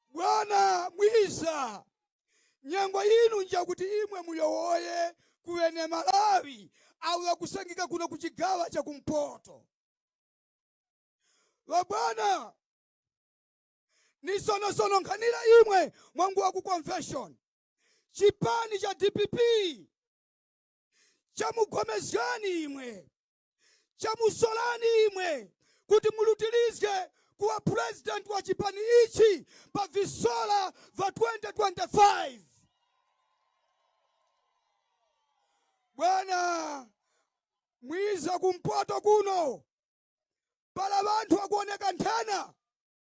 bwana mwiza nyengo yinu njakuti imwe muyowoye kuwene malawi awo akusangika kuno ku chigawa cha kumpoto vabwana ni sonosono nkhanira imwe mwanguwa ku convention chipani cha dpp chamugomezgani imwe chamusolani imwe kuti mulutilizge kuwa president wa chipani ichi pa visola va 2025 bwana mwiza kumpoto kuno pala vanthu akuoneka nthena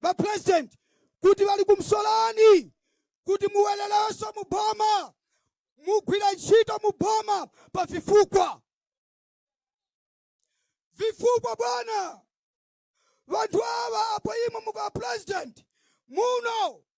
ba president kuti bali kumsolani kuti muweleleso mu boma mugwira ntchito mu boma pa vifukwa vifukwa bwana vanthu ava apo imwe mukawa president muno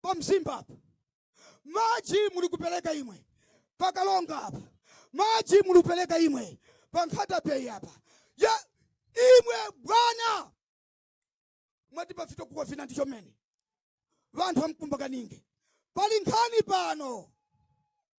pa mzimba apa maji mulikupeleka imwe pa karonga apa maji mulupeleka imwe pa nkhata bay apa ya imwe bwana mwati pafito kuwa vina ndicho mene vanthu amkumbakaninge pali nkhani pano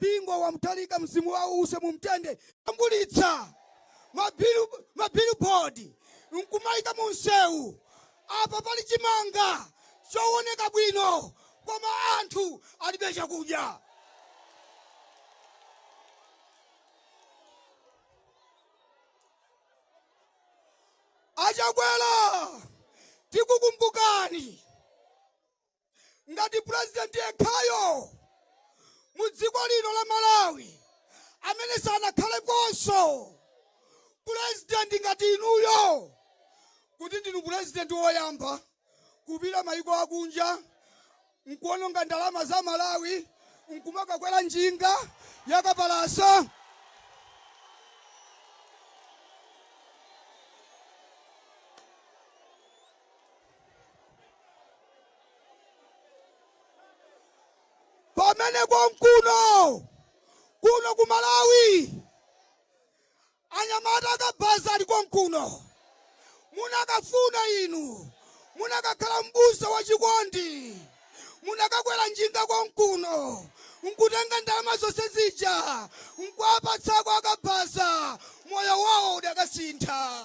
Bingu wa Mutharika mzimu wawo uuse mu mtende ajambulitsa mabillboard nkumaika mu msewu apa pali chimanga chooneka bwino koma anthu alibe chakudya a Chakwera tikukumbukani ngati purezidenti yekhayo mu dziko lino la malawi amene sanakhalekonso purezidenti ngati inuyo kuti ndinu purezidenti woyamba kupita mayiko akunja nkuononga ndalama za malawi nkumakakwera njinga yakapalasa pamene konkuno kuno ku malawi anyamata akabaza ali konkuno munakafuna inu munakakhala mbusa wa chikondi munakakwera njinga konkuno nkutenga ndalama zonse zija nkuapatsako akabaza moyo wawo udakasintha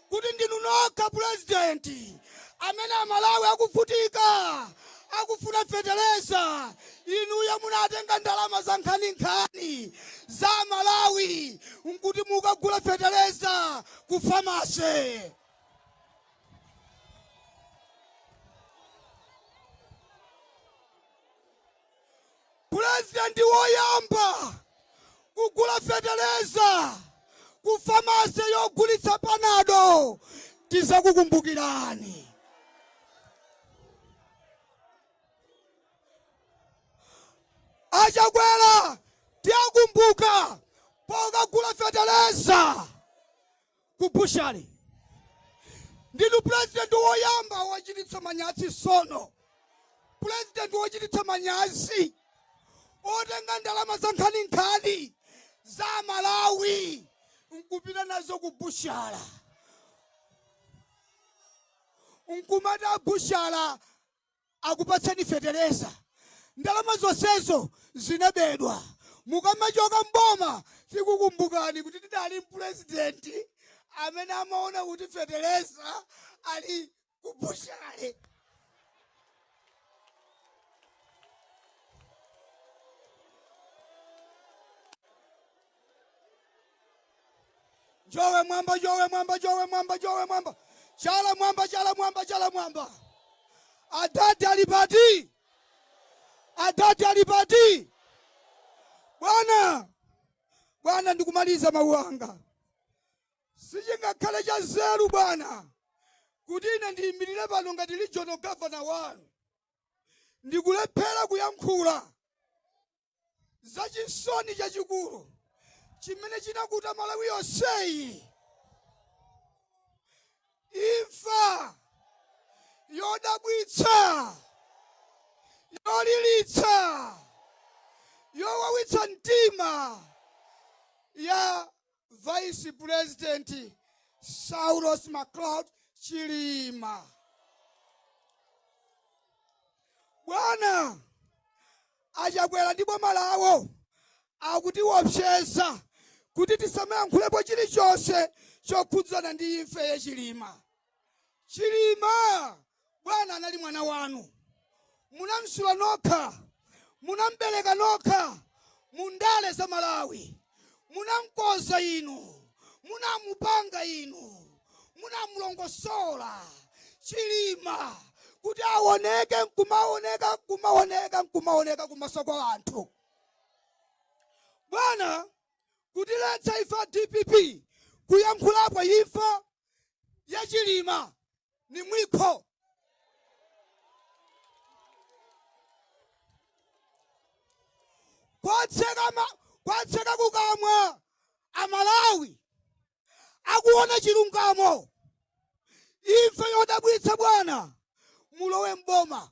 kuti ndinu nokha president amene amalawi akuvutika akufuna feteleza inuyo munatenga ndalama za nkhaninkhani za malawi nkuti mukagula feteleza ku pharmacy Pulezidenti woyamba kugula fetereza ku famase yogulitsa panado, tizakukumbukirani. A Chakwera tiwakumbuka pokagula fetereza. ku bushale ndinu pulezidenti woyamba wochititsa manyazi sono pulezidenti wochititsa manyazi otenga ndalama za nkhaninkhani za malawi nkupita nazo ku bushala nkumati a bushala akupatseni fetereza ndalama zonsezo zinabedwa mukamachoka mboma tikukumbukani kuti tidali ndi pulezidenti amene amaona kuti fetereza ali ku bushale Jowe mwamba, jowe mwamba, jowe mwamba, jowe mwamba, chala mwamba, chala mwamba, chala mwamba. Adadi alipati, adadi alipati. Bwana, Bwana, ndikumaliza mawu anga. Sichingakhale cha nzeru Bwana kuti ine ndiyimirire pano ngati regional governor wanu ndikulephera kuyankhula za chisoni chachikulu chimene chinakuta malawi yonseyi imfa yodabwitsa yolilitsa yowawitsa mtima ya vice president saulos klaus chilima bwana achakwera ndi boma lawo akutiwopseza kuti tisamayankhulepo chilichonse chokhudzana ndi imfa ya chilima chilima bwana anali mwana wanu munamsula nokha munambereka nokha mundale za malawi munamkoza inu munamupanga inu munamulongosola chilima kuti awoneke nkumaoneka nkumaoneka nkumaoneka kumaso kwa anthu bwana kutiletsa ife a dpp kuyankhulapo imfa ya chilima ni mwiko kwatseka ma- kwatseka kukamwa amalawi akufuna chilungamo imfa yodabwitsa bwana mulowe mboma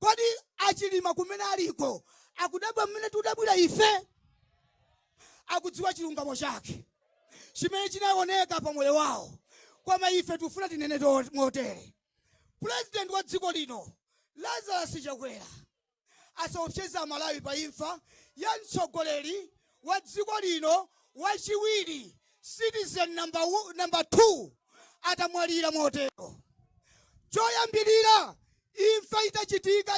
Kodi a Chilima kumene aliko akudabwa mmene tudabwira ife? Akudziwa chilungamo chake chimene chinaoneka pa moyo wawo, koma ife tikufuna tinene motere. President wa dziko lino Lazarus Chakwera asaopseze aMalawi pa imfa ya mtsogoleri wa dziko lino wachiwiri citizen number 2 atamwalira motero choyambirira imfa itachitika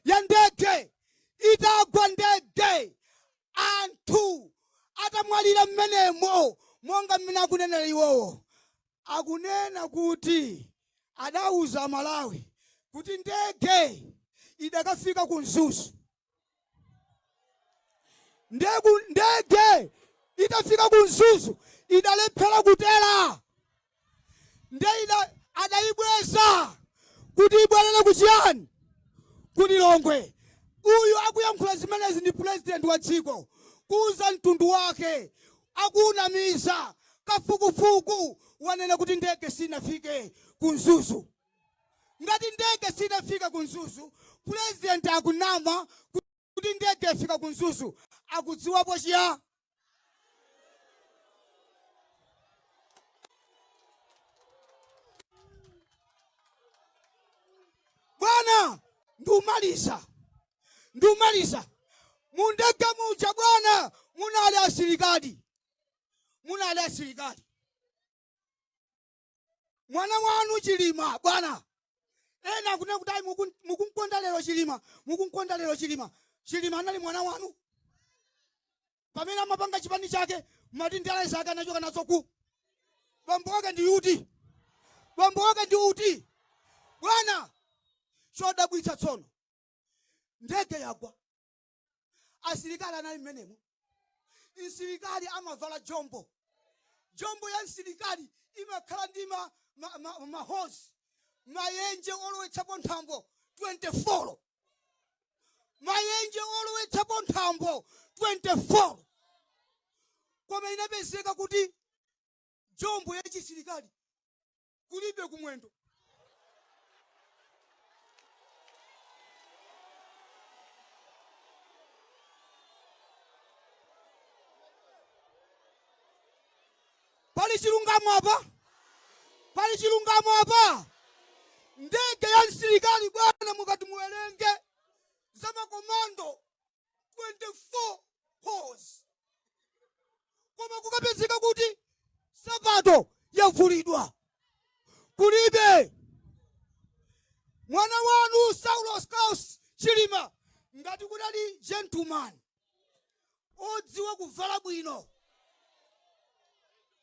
ya ndege itagwa ndege anthu atamwalira mmenemo monga mmene akunenera iwowo akunena kuti adauza aMalawi kuti ndege idakafika ku Mzuzu ndege itafika ku Mzuzu idalephera kutera nde adayibweza kuti ibwerere ku chiyani ku Lilongwe uyu akuyankhula zimenezi ndi pulezidenti wa dziko kuuza mtundu wake akuwunamiza. Kafukufuku wanena kuti ndege sinafike ku Mzuzu. Ngati ndege sinafike ku Mzuzu, president akunama kuti ndege yafika ku Mzuzu, akudziwapo chiya? Bwana, ndiumaliza. Ndumaliza, mundege muja bwana munali asilikali, munali asilikali. Mwana wanu Chilima bwana ena akunena kuti ayi muku- mukunkonda lero Chilima, mukunkonda lero Chilima. Chilima anali mwana wanu pamene amapanga chipani chake mumati ndale zake anachoka nazo ku bambo wake ndi uti bambo wake ndi uti bwana chodabwitsa tsono ndege yagwa asilikali anali mmenemo msilikali amavala jombo jombo ya msilikali imakhala ndi ma, ma, ma, ma holes mayenje olowetsapo nthambo 24 mayenje olowetsapo nthambo 24 koma inapezeka kuti jombo ya chisilikali kulibe kumwendo pali chilungamo apa pali chilungamo apa ndege ya msilikali bwana mukati muwerenge za makomando 24 holes koma kukapezeka kuti sapato yavulidwa kulibe mwana wanu saulos klaus chilima ngati kudali gentleman odziwa kuvala bwino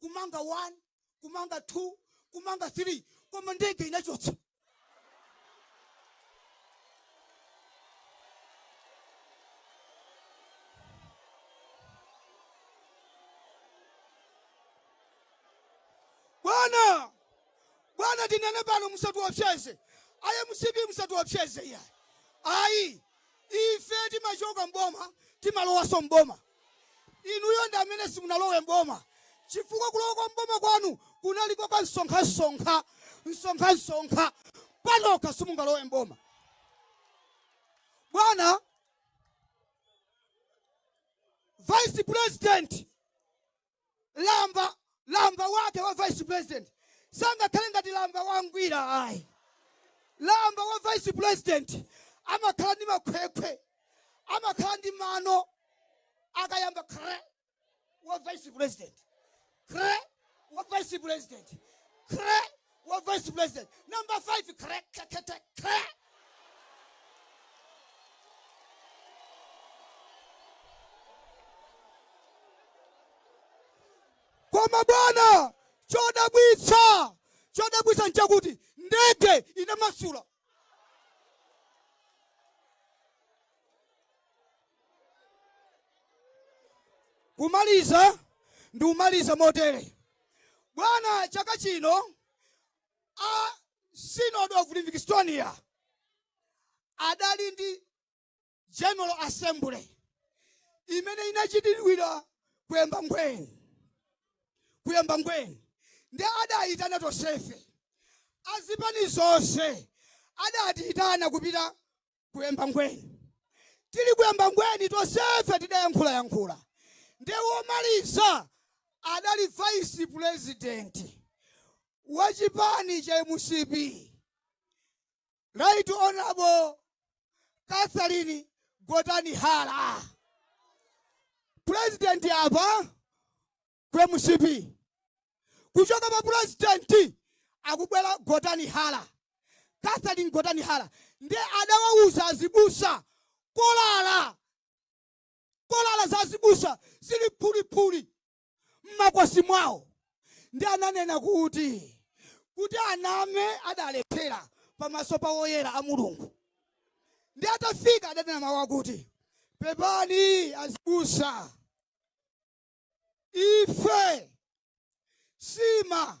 kumanga 1 kumanga 2 kumanga 3 koma ndege inachotsa bwana bwana tinene pano musatiopseze ayi mcp musatiopseze iya ayi ife timachoka mboma timalowaso mboma Inuyo ndi amene simunalowe m'boma chifukwa kulowa kwa m'boma kwanu kunali kwa kamsonkhamsonkha msonkhamsonkha. Panokha simungalowe m'boma. Bwana Vice President, lamba lamba wake wa vice president sangakhale ngati lamba wa ngwira ayi lamba wa vice president amakhala ndi makhwekhwe amakhala ndi mano akayamba kre wa vice president kre wa vice president kre wa vice president number 5 krekekete kre koma bwana chodabwitsa chodabwitsa nchakuti ndege inamasula kumaliza ndikumaliza motere bwana chaka chino a synod of livingstonia adali ndi general assembly imene inachitidwira ku embangweni ku embangweni ndi adayitana tonsefe azipani zonse adatiyitana kupita ku embangweni tili ku embangweni tonsefe tidayankhula yankhula ndi womaliza adali vice president wa chipani cha mcp Right Honorable Catherine Gotani Hara. President apa ku MCP. Kuchoka pa president akubwera Gotani Hara. Catherine Gotani Hara nde adawauza azibusa kolala kolala za azibusa zili phuliphuli m'makosi mwawo ndi ananena kuti kuti aname adalephera pamaso pa woyera a mulungu ndi atafika adanena mawu akuti pepani azibusa ife sima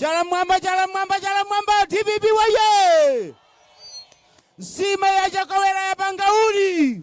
Chala mwamba, chala mwamba, chala mwamba, DPP waye! Nsima ya Chakawera ya Bangauli!